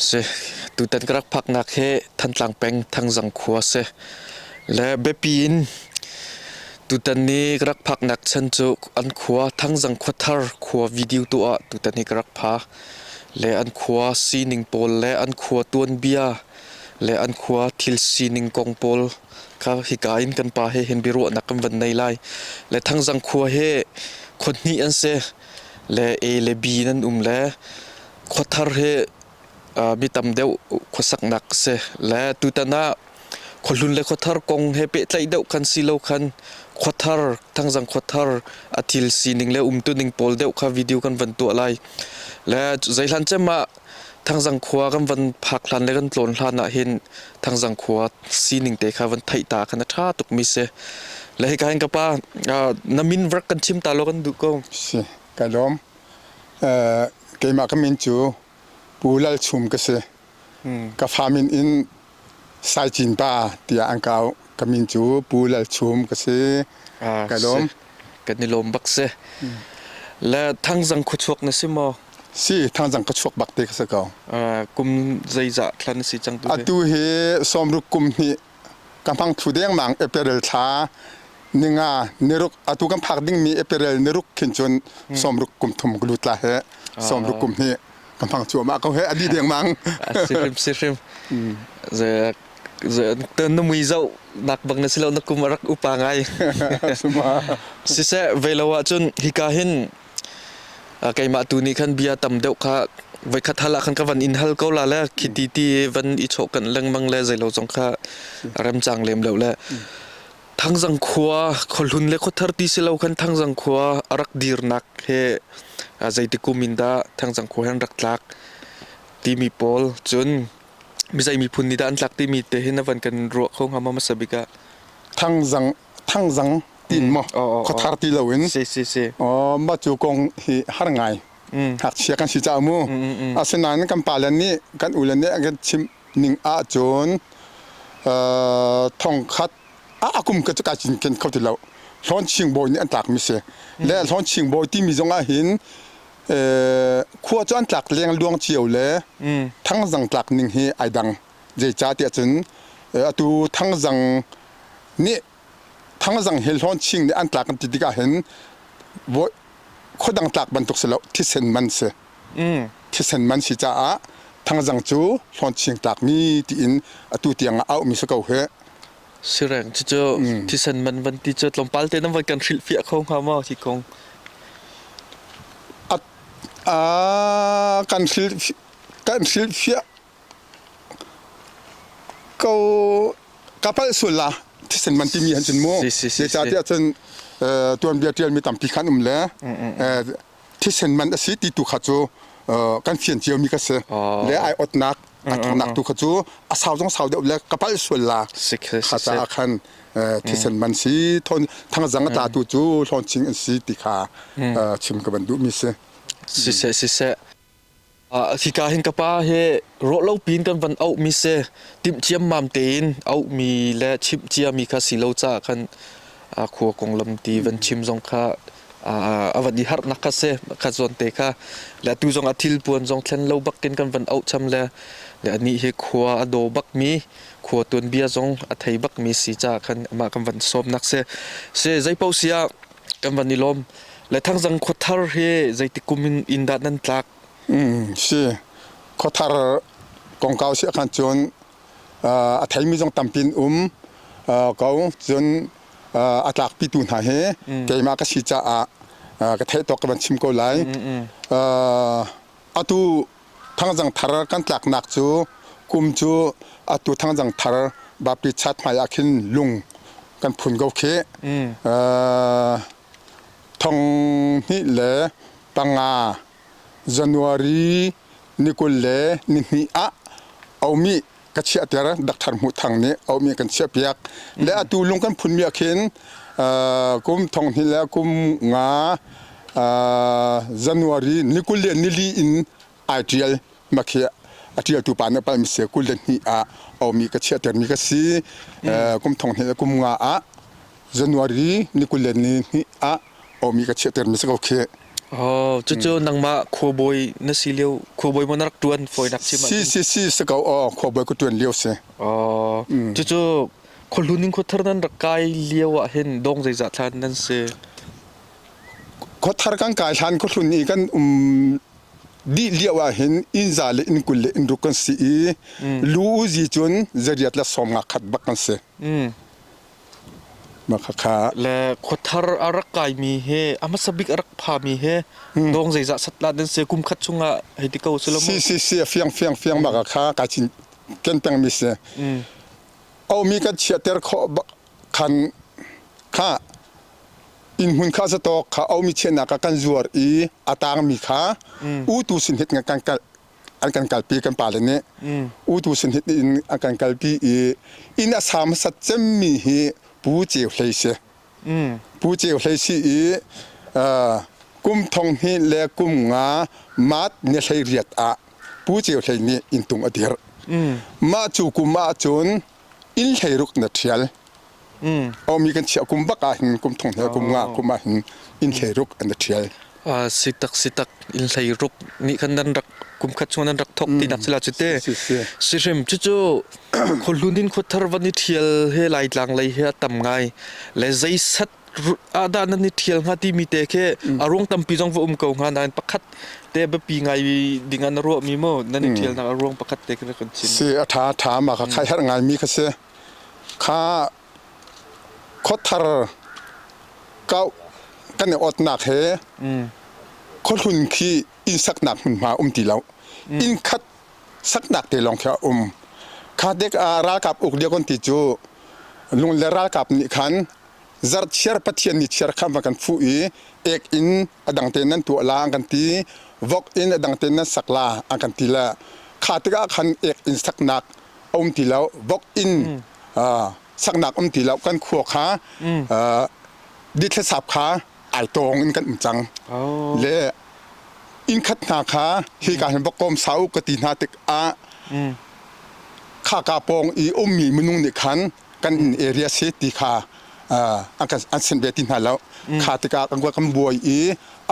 Si. Tutan ka rak phaknak hi Thantlang peng Thangzang khua si. Le biapi in tutan ni ka rak phaknak chan cu an khua Thangzang khuathar khua video tu ah tutan hi ka rak pha. Le an khua sining pawl le an khua tuanbia le an khua thil sining kong pawl kha hika in kan pa he hin biaruahnak kan van nei lai. Le Thangzang khua hi khua hnih an si. Le A le B in an um le khuathar hi mi tam deuh khuasaknak si le tutan ah khuahlun le khuathar kong he pehtlaih deuh khan si lo khan khuathar thangzang khuathar a thil sining le umtuning pawl deuh kha video kan van tuah lai le zeihlan cem ah thangzang khua kan van phak hlan le kan tlawn hlan ah hin thangzang khua sining te kha van theih ta khan a tha tuk mi si le hika hin ka pa na min vrak kan chim ta lo kan duh ko si Ka lawm. Uh, keimah ka min cu Pu Lal Chum ka si. Hmm. Ka fa min in Sai Cin Pa tiah an kau. Ka min cu Pu Lal Chum ka si. Ah, ka lawm. Kan i lawm bak si. Hmm. La thangzang khuchuak na si maw? Si, thangzang khuchuak bak te ka si ko. Uh, kum zeizah thlan na si cang tu? Atu hi sawmruk kum hnih ka hmang thlu dengmang apparel thla ninga niruk atu kan phak dingmi apparel niruk khin cun sawmruk kum thum glu tla he sawmruk kum hi ka hmang chu ama ko he adi dengmang sihrim sihrim na mui zau nak bang na silo na kum arak upa ngai siseh velo ah cun hika hin keimah tu nih khan bia tam deuh kha voikhat hal ah khan ka van in hal ko la le khi ti ti van i chawh kan lengmang le zei lo zong kha remcang lem lo le thangzang khua khuahlun le khothar ti si lo khan thangzang khua a rak dirnak he zeiti kumin da thangzang khua hen rak tlak timi pawl cun mizai miphun ni da an tlak timi te hin avan kan ruah kho ngama masa bika thangzang thangzang tin maw khuathar ti loin mah cu kong hi har ngai ngakchia kan si caah mu asinain kan pale nih kan ule nih an kan chimh ning ahcun thongkhat a kum ka cu kai cinken kho ti lo hlawn chingbawi nih an tlakmi si le hlawn chingbawi timi zong ah hin khua cu an tlak leng luang cio le thangzang tlak ning hi ai dang zeicahtiah cun atu thangzang nih thangzang hi hlawn ching nih an tlak an ti tikah hin khuadang tlak bantuk si lo thisen man si thisen man si caah thangzang cu hlawn ching tlakmi tiin atu tiang ah auhmi si ko hih sireng cucu thisen man van ti cu tlawmpal te nan van kan hrilh fiah kho hnga maw hi kong kan hrilh kan hrilh fiah Ka palh sual la thisen man timi an cun mu. Zeicahtiah cun tuanbia ṭialmi tampi kha an um le thisen man a si ti tu kha cu kan fian ciami ka si. Le aiawtnak a ṭhatnak tu kha cu a sau zong sau deuh le ka palh sual la kha caah khan thisen man si thangzang a tlatu cu hlawncing an si ti kha chim ka van duhmi si. Siseh siseh. Hika hin ka pa hi rawh lo piin kan van auhmi si, timh ciammam tein auhmi le chimh ciami kha si lo caah khan khua konglam ti van chim zong kha a van i harhnak kha si kha zawn te kha. Le atu zong a thilpuan zong thlen lo bakin kan van auhcham le anih hi khua a daw bakmi, khua tuanbia zong a thei bakmi si caah khan amah kan van sawmnak si. Zeipaoh si ah kan van i lawm. Le thangzang khuathar hi zeitik kum in in dah nan tlak? Mm, si. Khuathar kongkau si khan cun a theimi zong tampi um ko. Cun a tlakpi tu hna hi keimah ka si caah ka theih tawk ka van chim ko lai. Atu Thangzang thar kan tlaknak cu kum cu atu Thangzang thar Vapi chat hmai ah khin lung kan phun ko khi mm. uh, thong hnih le panga January ni kul le ni hnih ah aumi ka chiahter Dr. Hmu Thang nih aumi kan chiahpiak le atu lung kan phunmi ah khin kum thong hnih le kum nga January ni kul le nili in ai ṭial makhi a ṭialtu pa na palmi si kul le hnih ah aumi ka chiahtermi ka si kum thong hnih le kum nga ah January ni kul le ni hnih ah omi ka chiahter mi si ko khi Oh, cucu nangmah khuabawi na si lio khuabawi mo na rak tuan foinak chim si si si si ko o khuabawi ku tuan lio si Oh, cucu khuahlun in khuathar nan rak kai lio ah hin dong zeizah thlan nan si khuathar kan kai hlan khuhlun i kan um dih lio ah hin innza le inn kul le inn ruk kan si i lu uzi cun zariat la som nga khat bak kan si Le khuathar a rak kaimi he a hmasa bik a rak phami he dawng zeizah satlah nan si kum khat chungah hei ti ko selamu. Si si si fiang fiang fiang bak kha ka chin ken pengmi si. Aumi kan chiater kho bak khan kha in hmun kha satok kha aumi chenak kan zuar i a tangmi kha u tu sin hit kan an kan kalpi kan pale nih u tu sin hit in an kan kalpi i inn a sa hmasat cemmi hi pu ceu hlei si pu ceu hlei si i kum thong hnih le kum nga maat ni hlei riat ah pu ceu hlei nih inn tung a dir mah cu kum ah cun inn hleiruk na ṭhial aumi kan chiah kum bak ahhin kum thong he kum nga kum ahhin inn hleiruk an i ṭhial sitak sitak inn hleiruk nih khan nan rak kum khat chung nan rak thok tinak sila cute sihrim cucu khawhlun in khawthar van i ṭhial he laitlang lei he a tam ngai le zeisat ahdah nan i ṭhial hnga timi te khi a ruang tampi zong va um ko hnga nain pakhat te biapi ngai ding ah na ruahmi maw nan i ṭhialnak a ruang pakhat te khi na kan chim. Si a ṭha a ṭha ma kha kai herh ngaimi kha si. Kha khuathar kau kan i otnak he khuahlun khi inn saknak hmunhma um ti lo. Inn khat saknak te lawng khi a um. Kha dek ah ralkap uk lia kon ti cu lung le ralkap nih khan Zarhchiar Pathian ni chiar kha a kan fuh i ek in a dang tein nan tuah la an kan ti. Vok in a dang tein nan sak la an kan ti le kha tikah khan ek in saknak a um ti lo. Vok in saknak um ti lo. Kan khua kha dithlesap kha ai tawng in kan um cang. Le inn khat hna kha hi ka hin vok kom sau ka ti hna tikah khaka pawng i ummi minung nih khan kan area si ti kha an sin ve ti hna lo kha tikah kan buai i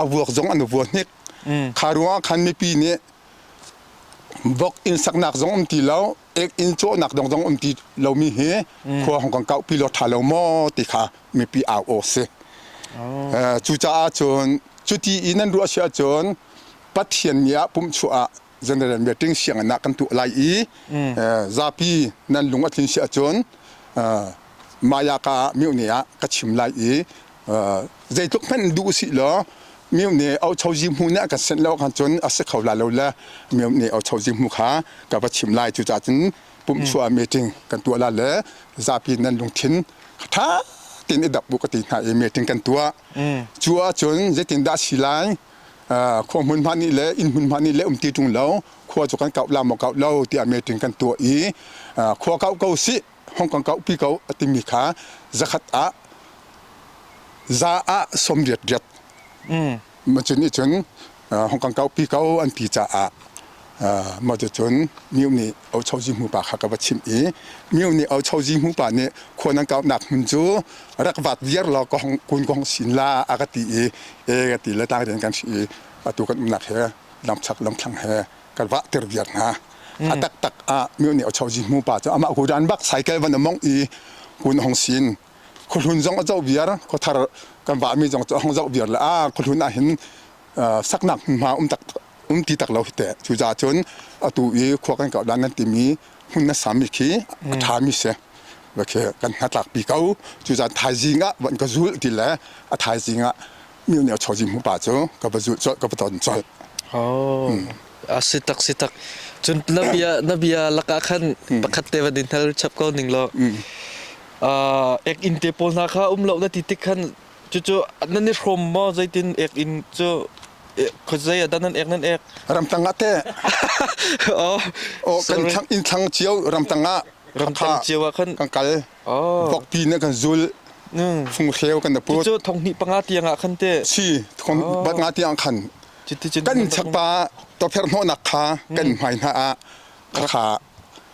a vuak zong an vuak hnik kha ruangah khan mipi nih vok inn saknak zong um ti lo ek inn cawhnak dong zong um ti lomi hi khua hong kan kauh pi lo tha lo maw ti kha mipi au aw si cucaah cun cuti i nan ruah si ahcun pathian ni ah pumh chuah ah general meeting sianginn ah kan tuah lai i zapi nan lung a thin si ahcun mayaka mihne ah ka chim lai i zeitluk hmanh duh usih law mihne auchozi hmu nih a kan senh lo khan cun a si kho la lo le mihne auchozi hmu kha ka va chim lai cucaah cun pumhchuah meeting kan tuah la le zapi nan lungthin ṭha tin i dap bu ka ti hna i meeting kan tuah cu ahcun zeitin dah si lai khua hmun hma nih le inn hmun hma nih le um ti ṭung lo khua cu kan kauh la maw kauh lo tiah meeting kan tuah i khua kauh ko sih hong kan kauh pi ko a timi kha zakhat ah za ah sawm riat riat cun ih cun hong kan kauh pi ko an ti caah Mah ticun Myo nih Ocho Zihmu pa kha ka va chimh i Myo nih Ocho Zihmu pa nih khua nan kauhnak hmun cu rak vaak viar law ka hong kun kong sin la a ka ti i e ka ti le tang rian kan si i atu kan umnak he lamchak lamthlang he kan vahter viar hna a taktak ah Myo nih Ocho Zihmu pa cu amah hudan bak cycle van a mongh i kun hong sin khuhlun zong a zoh viar khuathar kan vahmi zong cu a hong zoh viar le a khuhlun ah hin saknak hmunhma um tak um ti tak lo hi teh cucaah cun atu i khua kan kau dan kan timi hmun na sami khi a ṭhami si va khi kan hnatlak pi ko cucaah thaizing ah van ka zulh ti le a thaizing ah mil nih a chozi hmu pa cu ka va zulh colh ka va ton colh Oh. Ah si tak si tak. Cun na bia na bia lakah khan pakhat te va din hal chap ko ning lo. Ah ek in te pawl hna kha um lo na ti tik khan Cucu nan i hrawm maw zeitin ek in cu khawzei adan nan ek nan ek ramtang ah te oh oh kan thang in thang cio ramtang ah ramtang cio ah kan kan kal oh bokpi ne kan zul phung hreu kan da put cu thonghni panga tiang ah khan te si thong bat nga tiang khan kan chapa to pher no nak kha kan mai na a kha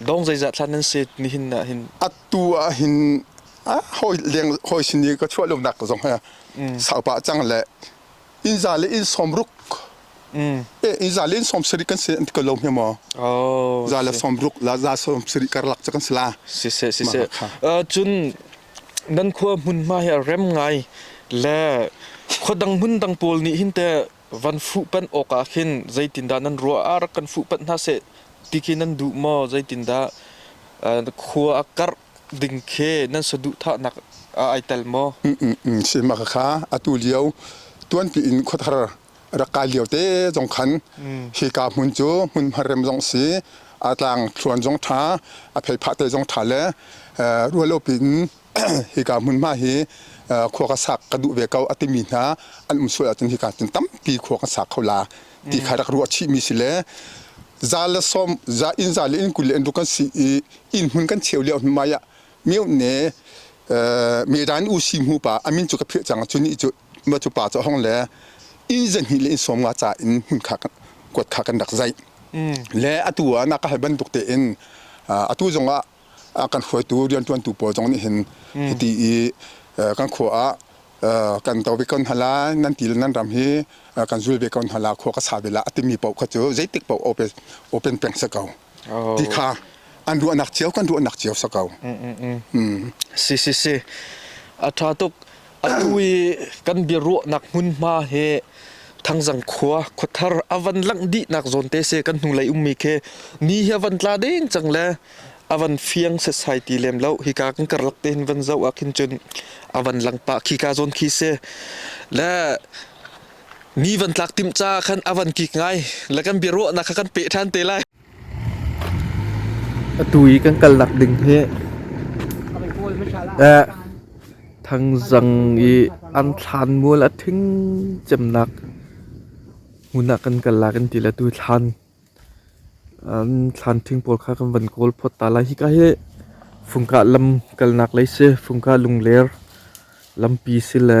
Dong zeizat hlan nan se nihin ah hin? Atu ah hin hawi leng hawi sin i ka chuah lonak zong he sau pah cang le inn za le inn sawm ruk inn za le inn sawm sarik kan se an ti ko lo hme maw za le sawm ruk la za sawm sarik karlak cu kan si la si se si se cun nan khua hmunhma hi a rem ngai le khua dang hmun dang pawl nih hin te Van fuhpanh awkah khin zeitindah nan ruah ah rak kan fuhpanh hna seh ti khi nan duh maw? Zeitindah khua a karh ding khi nan saduhthahnak ah ai tel maw? Sihmaka kha atu lio tuanpi in khuathar rak kai lio te zong khan hika hmun cu hmunhma rem zong si a tlang thluan zong ṭha a pheiphah te zong ṭha le rualopi in hika hmunhma hi khua ka sak ka duh ve ko a timi hna an um sual ahcun hika cun tampi khua kan sak kho la ti kha rak ruah chihmi si le za le sawm za inn za le inn kul le inn ruk kan si i inn hmun kan cheu lio hmunhma ah mio ne medan u si hmu pa amin cu ka phirh cang cu ni cu ma cu pa cu hong le inn zan hi le inn sawm nga ca in hmun kha kuat kha kan rak zai le atu ah na ka hal bantuk te in atu zong ah kan hruaitu rianṭuantu pawl zong nih hin hiti i kan khua ah kan do ve ko hna lai nan ti le nan ram hi kan zul ve ko hna la khua ka sa ve la a timi paoh kha cu zeitik paoh open peng si ko ti kha an ruahnak cio kan ruahnak cio si ko. Si si si. A ṭha tuk. Atu i kan biaruahnak hmunhma hi Thangzang khua khuathar a van langh dihnak zawn te se kan hnulei ummi khi ni hi a van tla deng cang le a van fiang setsai ti lem lo hi ka kan karlak te hin van zo ah khin cun a van lang pa khi ka zawn khi se le ni van tlak tim ca khan a van kik ngai le kan biaruahnak kha kan pe than te lai Atu i kan kalnak ding hi thangzang i an thlanmual a thing cemnak hmun ah kan kala kan ti le atu thlan an thlan thing pawl kha kan van kawl phawt ta lai. Hika hi Fungkah lam kalnak lei si, Fungkah lungler lampi si le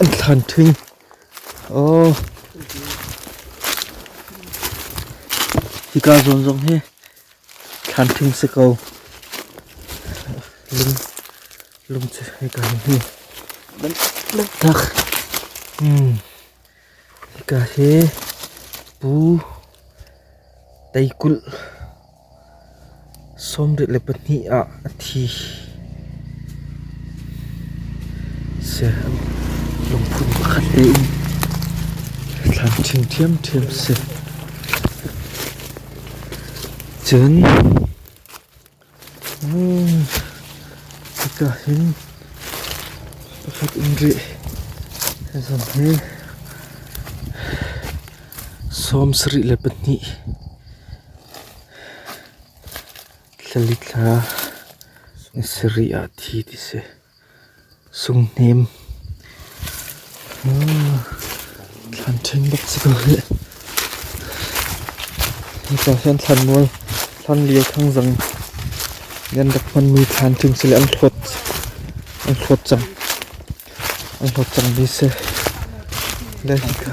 An thlan thing. Aw. Hika zawn zong hi thlan thing si ko. Lung, lung cu hika hin hi. Tak. Hmm. Hika hi pu teikulh. Sawmdeuh le pahnih ah a thi. Lungphun pakhat tein thlan ṭhing ṭhiamṭhiam si. Cun hika hin pakhat in rih zan hi sawm sarih le pahnih. Thla li thla ni sarih ah thi ti si. Sunghnem, thlan ṭhen bak si ko hih. Nicah hin thlanmual, thlanlio thangzang nih an rak hmanmi thlan ṭing si le an hlawt, an hlawt cang. An hlawt cangmi si. Le hika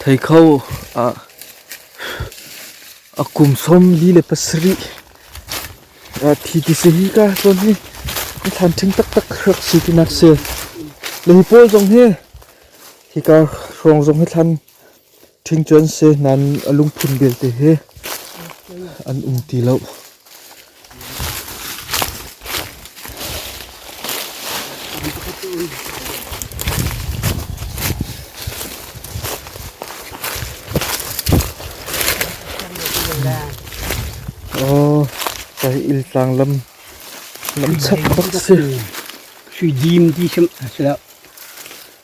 Thei kho ah a kum som li le pasarih thi ti se hi ka hlon hi a thlan ṭhing taktak rak si ti nak se le hi pawl zong hi hi kar hrawng zong hi thlan Ṭhingṭuan si nan a lungphun vialte hi an um ti lo. Oh, sai il tlang lam lam chak bak si. Sui dim ti sim asla.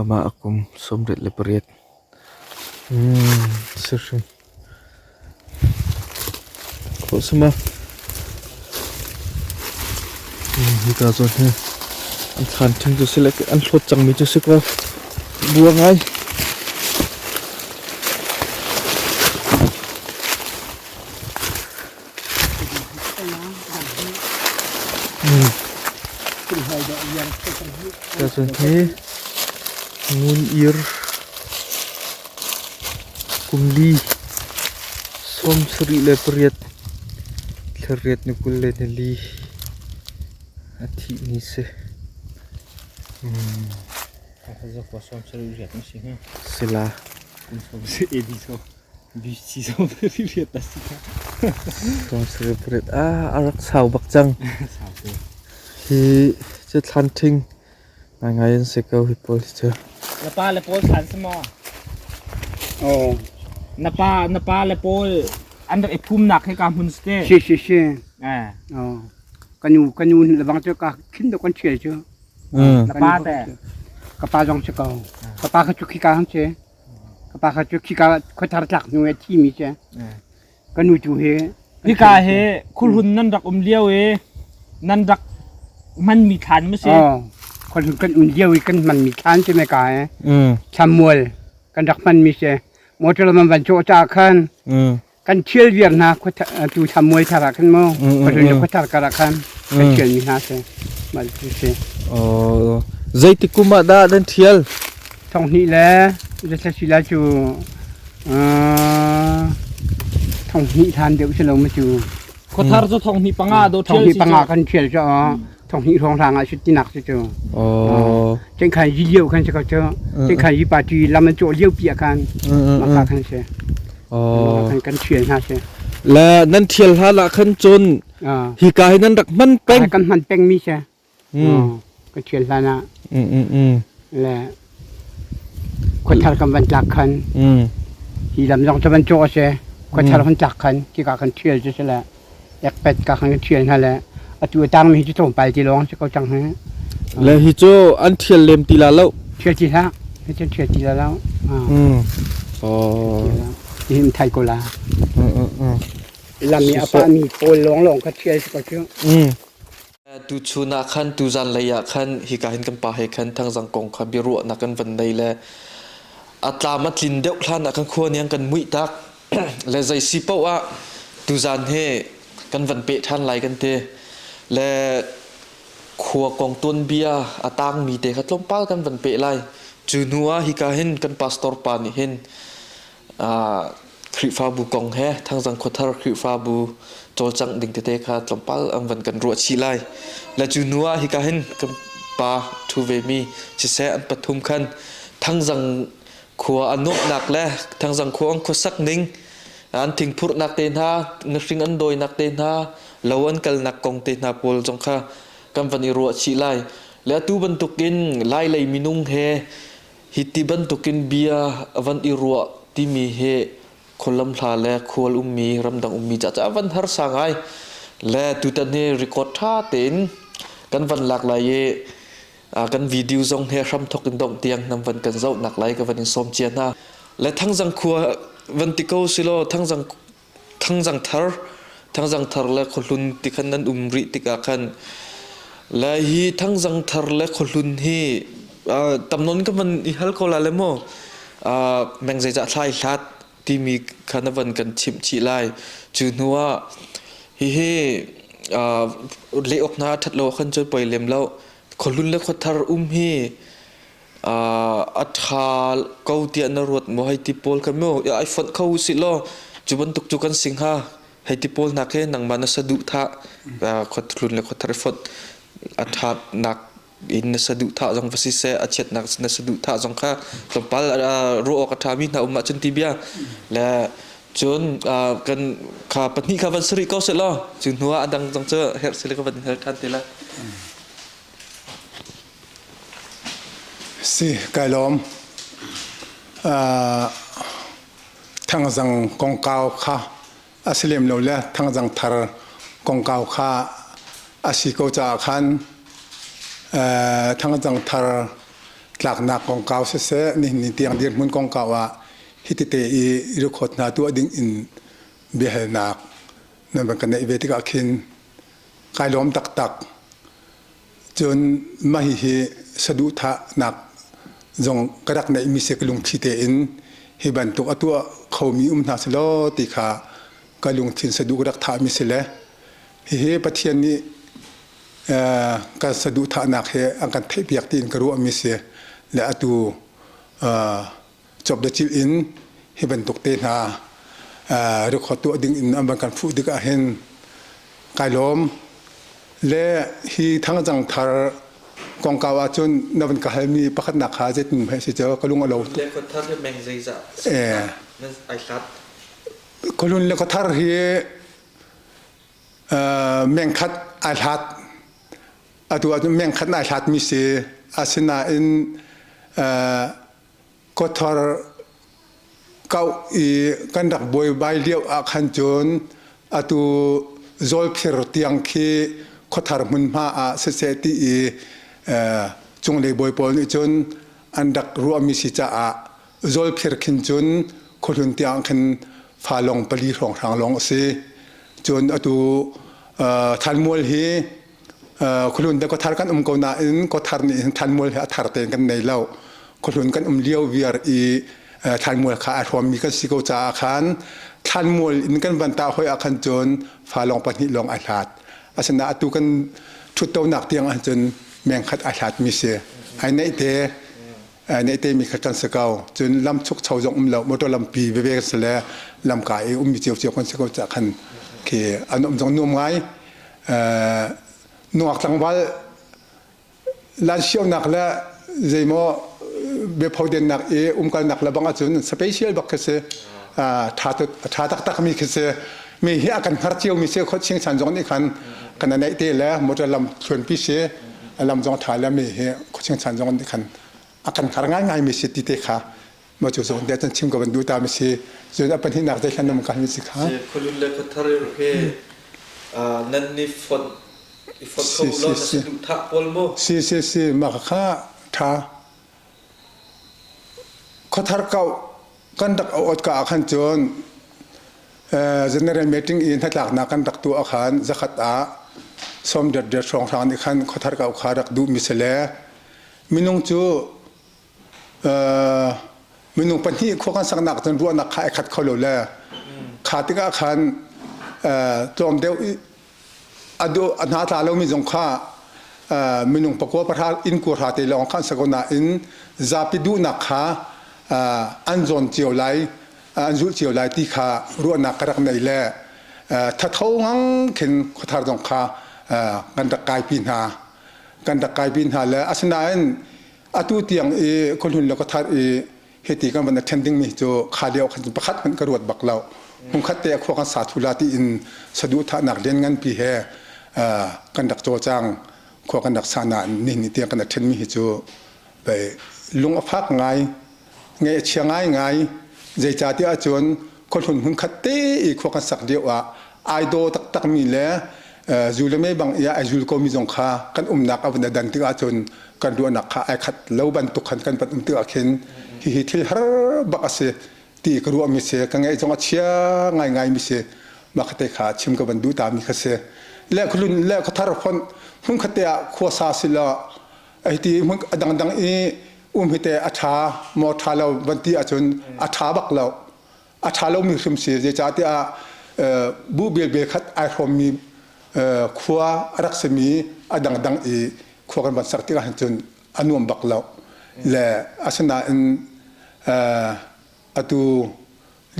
Amah a kum sawmriat le pariat si hrim a khuasam a. Hika zawn hi an thlan ṭhing cu si le an hlawt cangmi cu si ko. Bua ngai. Tucun hi Ngun Ir kum li sawm sarih le pariat thlariat ni kul le ni li a thih ni si. Si la. Conservate ah a rak sau bak cang. Hi cu thlanthing ngaingai an si ko hi pawl hi cu. Na pa le pawl thlan si maw? Oh. Na pa na pa le pawl an rak i phumnak he ka hmun si te. Si si si. Eh. Oh. Kanu kanu le bang cu ka khin do kan chia cu. Mm. Na pa te. Ka pa zong si ko. Ka pa ka cu khi ka hang si. ka pa kha cu khika ah khuathar tlak hnu i a thimi cu ka nu cu hi hika hi khulhun nan rak um lio i nan rak hmanmi thlan ma si khulhun kan um lio i kan hmanmi thlan cu me ka i thlamual kan rak hmanmi si motor man van cawh ca khan kan ṭhial viar hna tu thlamuai thar ah khan maw khuadun le khuathar kar ah khan kan ṭhialmi hna si mal ti si. Zeitik kum ah dah nan ṭhial? Thonghnih le zasasila cu thonghnih than deuh si lo mu cu. Khuathar cu thonghnih panga do ṭhial si. Thonghnih panga kan ṭhial cu Thonghnih hrawng hlang ah sut tinak cu cu. Oh. Cengkhan yi lio khan si ko cu. Cengkhan yi party lam an cawh lio pi khan maka khan si. Oh. Khan kan thial hna si. La nan thial hla la khan cun hi ka hi nan rak hman peng. Kan hman peng mi si. Kan thial hla na. Le Khuathar kan van tlak khan hi lam zong cu van cawh a si. Khuathar kan tlak khan hika kan ṭhial cu si le ekpet ka kan ṭhial hna le atu a tangmi hi cu thawngpang ti lawng si ko cang hih. Le hi cu an ṭhial lem ti la lo. Ṭhial ti hlah. Hi cu ṭhial ti la lo. Oh. Tihin thai ko la. Lam i a pahmi pawl lawnglawng kha ṭhial si ko cu. Tuchun ah khan tuzan lei ah khan hika hin kan pa he khan thangzang kong kha biaruahnak kan van nei le a tlam a tlin deuh hlan ah kan khua niang kan muih tak le zei si paoh ah tuzan he kan van pe ṭhan lai kan ti le khua kong tuanbia a tangmi te kha tlawmpal kan van pe lai cu hnu ah hika hin kan pastor pa nih hin Khrihfabu kong he Thangzang Khuathar Khrihfabu cawlcangh ding tete kha tlawmpal an van kan ruah chih lai. Le cu hnu ah hika hin kan pa thu ve mi siseh an pathum khan Thangzang khua an nuamhnak le Thangzang khua an khuasak ning an thingphurhnak te hna ngahring an dawinak te hna lo an kalnak kong te hna pawl zong kha kan van i ruah chih lai. Le atu bantuk in Lai lei minung he Hi ti bantukin bia a van i ruah timi hi khualam hla le khual ummi ramdang ummi caah a van harsa ngai le tutan hi record ṭha tein kan van lak lai i kan video zong he hram thok in dongh tiang nam van kan zoh nak lai ka van in sawm cia hna le thangzang khua van ti ko silaw thangzang Thangzang thar, thangzang thar le khuahlun ti khan an um rih tikah khan lai hi thangzang thar le khuahlun hi uh, tam non ka man i hal ko la le maw uh, meng zeicah thlai hlat timi kha na van kan chimh chih lai cu hnu ah hihi uh, le ok na that lo khan choi poi lem lo khuahlun le khuathar um hi a ṭha ko tiah na ruat maw? Hei ti pawl kan mu. Ya, ai fonh kho usih law cu bantuk cu kan si hnga. Hei ti pawl hna khi nangmah na saduh thah khuatlun le khuathar i fonh a ṭhatnak in na saduh thah zong va si seh, a chiatnak na saduh thah zong kha tlawmpal ruah awk a ṭhami hna um ahcun ti bia. Le cun kan kha pahnih kha van suri ko seh law cu hnuah a dang zong cu herh sile ka van hal ṭhan te la. Kai lawm. Thangzang kongkau kha a si lem lo le thangzang thar kongkau kha a si ko caah khan thangzang thar tlaknak kongkau siseh nihin ni tiang dirhmun kongkau ah hitite i rukhawt hna tuah ding in biahalnak nan van ka neih ve tikah khin kai lawm taktak. Cun mah hihi saduhthahnak zong ka rak neihmi si ka lungthli tein hi bantuk a tuah khomi um hna selaw ti kha ka lungthin saduh ka rak thahmi si le hihi Pathian nih kan saduhthahnak he an kan theihpiak tiin ka ruahmi si le atu cawkdacilh in hi bantuk te hna record tuah ding in an van kan fuh tik ahhin kai lawm le hi thangzang thar kongkau ahcun na van ka halmi pakhatnak kha zeitin mah si cu ka lung a lo tuk. Le khuathar hi meng zeizah ai hlat. Kulun le khuathar hi meng khat ai hlat atu ahcun meng khat ai hlat mi si asinain Kawthar kauh i kan rak buaibai lio ah khan cun atu Zawlkhir tiang khi khuathar hmunhma ah siseh ti i cunglei bawi pawl nih cun an rak ruahmi si caah Zawlkhir khin cun khuahlun tiang khin fa lawng pali hrawnghrang lawng a si. Cun atu Thanmual hi khulun de khuathar kan um ko nain khuathar nih hin thlanmual hi a thar tein kan nei lo khuhlun kan um lio viar i thlanmual kha a hruammi kan si ko caah khan thlanmual in kan van ta hoi ah khan cun fa lawng pahnih lawng a hlat asinain atu kan ṭhuttonak tiang ahcun mengkhat a hlatmi si ai neih te nei te mi kha kan si ko cun lam chuk cho zong um lo motor lampi veve kan si le lam ka i um mi cio cio kan si ko cah khan khi an um zong nuam ngai nuak tlangval lan xiao nak le zeimaw bephoden nak i umkal nak le bang acun special bak khi si tha tha tak tak mi khi si mi hi akan har cio mi se khot sing san zong nih khan kana nei te le motor lam chuan pi se lam zong a tha le mi hi khuaching chan zong khan a kan khar ngaingai mi si ti te kha ma cu zon de chan chim ko ban du ta mi si zon a pan hi nak dai thlan nam ka mi si kha khulun le khuthar ke nan ni phot i phot kho lo na si du thak pol mo si si si ma kha tha Khuathar kauh kan rak auh awtka ah khan cun general meeting i hnatlaknak kan rak tuah ah khan zakhat ah sawm dotdot hrawnghrang nih khan khuathar kauh kha rak duhmi si le minung cu minung pahnih khua kan saknak cun ruahnak kha ai khat kho lo le kha tikah khan tlawm deuh a hna tla lomi zong kha minung pakua pahra inn kuahra te lawng kha an si ko nain zapi duhnak kha an zawn cio lai an zulh cio lai ti kha ruahnak ka rak nei le thatho ngang khin khuathar zong kha kan rak kaipi hna kan rak kaipi hna le asinain atu tiang i khuahlun le khuathar i Hiti kan van attending mi cu kha lio khan pakhat hmanh ka ruat bak lo. Hmungkhat te a khua kan sa thula ti in sadu thahnak lian ngan pi he kan rak caw cang. Khua kan rak sa na ni ni tiang kan atthen mi hi cu lung a fak ngai, ngai a chia ngai ngai. Zeicatiah cun khuahlun hun khat te i khua kan sak lio ah ai daw taktak mi le zu le mei bang i ai zul ko mi zong kha kan umnak a vun dan tik ahcun kan ruahnak kha ai khat lo bantuk khan kan van um tik ahkhin hihi thil har bak a si ti ka ruah mi si ka ngaih zong a chia ngai ngai mi si mah ka te kha chim ka van duh ta mi kha si le khualun le khuathar phon hun khatte ah khua sa si la Aiti hmun dangdang i umhite a ṭha maw ṭha lo van ti ahcun a ṭha bak lo. A ṭha lomi hrim si zeicahtiah buh belbel khat ai hrawmmi khua a rak simi a dangdang i khua kan van sak tikah cun a nuam bak lo. Le asinain atu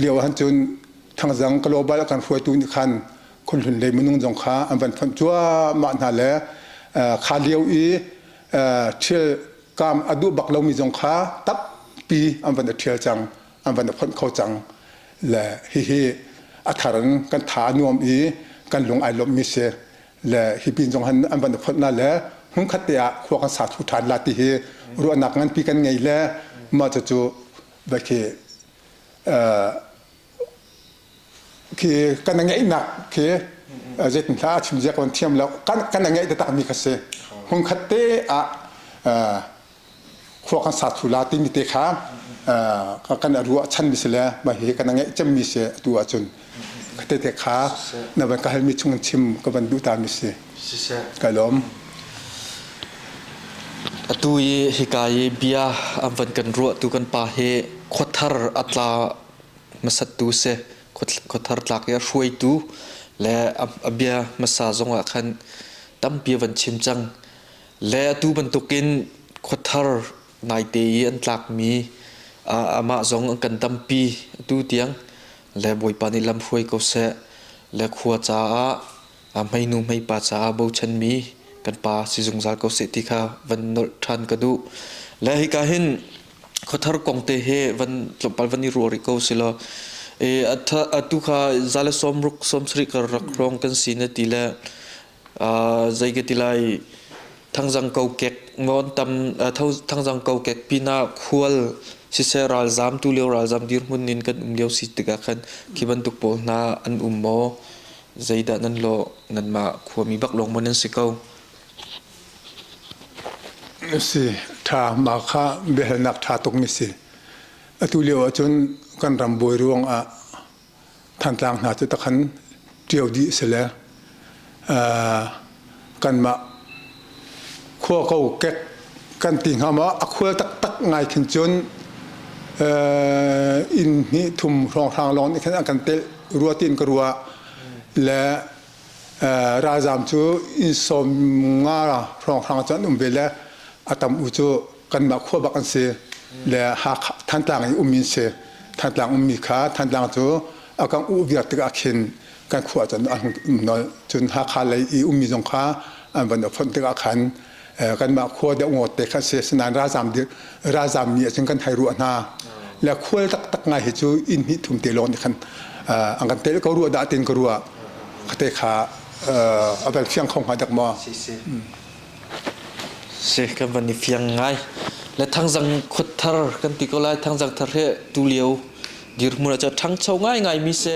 Lio ahcun thangzang global kan hruaitu nih khan khunhlun lei minung zong kha an van fonh cuahmah hna le kha lio i thil kam a duh bak lomi zong kha tampi an van i ṭhial cang an van i fonh kho cang le hihi a thar in kan tha a nuam i kan lung ai lawmhmi si le hi pin zong han an van i fonhna le hmunkhat te ah khua kan sa thu ṭhan la ti hi ruahnak nganpi kan ngei le mah cucu va khi khi kan na ngeihnak khi zeitin hla a chim zia kan thiam lo kan na ngeih takmi kha si hmun khat te ah khua kan sa thu la timi te kha kan ruah chan mi si le mah hi kan ngeih cemmi si atu ahcun Tete kha na van ka halmi chung chim ka van duh ta mi si. Ka lawm. Atu i hika i bia an van kan ruah tu kan pa hi khothar atla masat tu se khothar tlak i a hruaitu le a bia masa zong ah khan tampi van chim cang le atu bantukin khothar naite i an tlakmi amah zong an kan dampi atu tiang le bawipa nih lam hruai ko seh le khua caah hmeinu hmeipa caah bochanmi kan pa si zungzal ko seh ti kha van nolh ṭhan ka duh le hika hin khothar kong te he van tlawmpal van i ruah rih ko si law e atu kha zale sawm ruk sawm sarih ka rak rong kan si na ti le zei ka ti lai thangzang kokek maw tam thangzang kokek pinah khual siseh ralzam tu lio ralzam dirhmun in kan um lio si tikah khan khi bantuk pawl hna an um maw zeidah nan lawh nanmah khuami bak lawng maw nan si ko si tha mah kha biahalnak tha tuk mi si atu lio ahcun kan ram bawi ruang ah Thantlang hna cu takhan ṭio dih a si le kanmah khua kokek kan ti hnga maw a khual taktak ngai khin cun inn hnih thum hrawnghrang lawng nih khan an kan telh rua tiin ka ruah le ralzaam cu inn sawm nga hrawnghrang cu an um ve le a tam u cu kanmah khua bak an si le Hakha Thantlang i ummi an si Thantlang ummi kha Thantlang cu a kan uh viar tikah khin kan khua cun an hung um nawl cun Hakha lei i ummi zong kha an van fonh tikah khan kanmah khua deuh ngawt te khan si sinain ralzaam ralzaam mi ahcun kan hai ruah hna le khual taktak ngai hi cu inn hnih thum te lawng nih khan an kan tel ko rua dah tin ka rua kate kha a bel fiang kho hnga dak maw Seh kan van i fiang ngai. Le thangzang khuat thar kan ti ko lai. Thangzang thar he tulio dirhmun ah cu a ṭhangcho ngaingaimi si.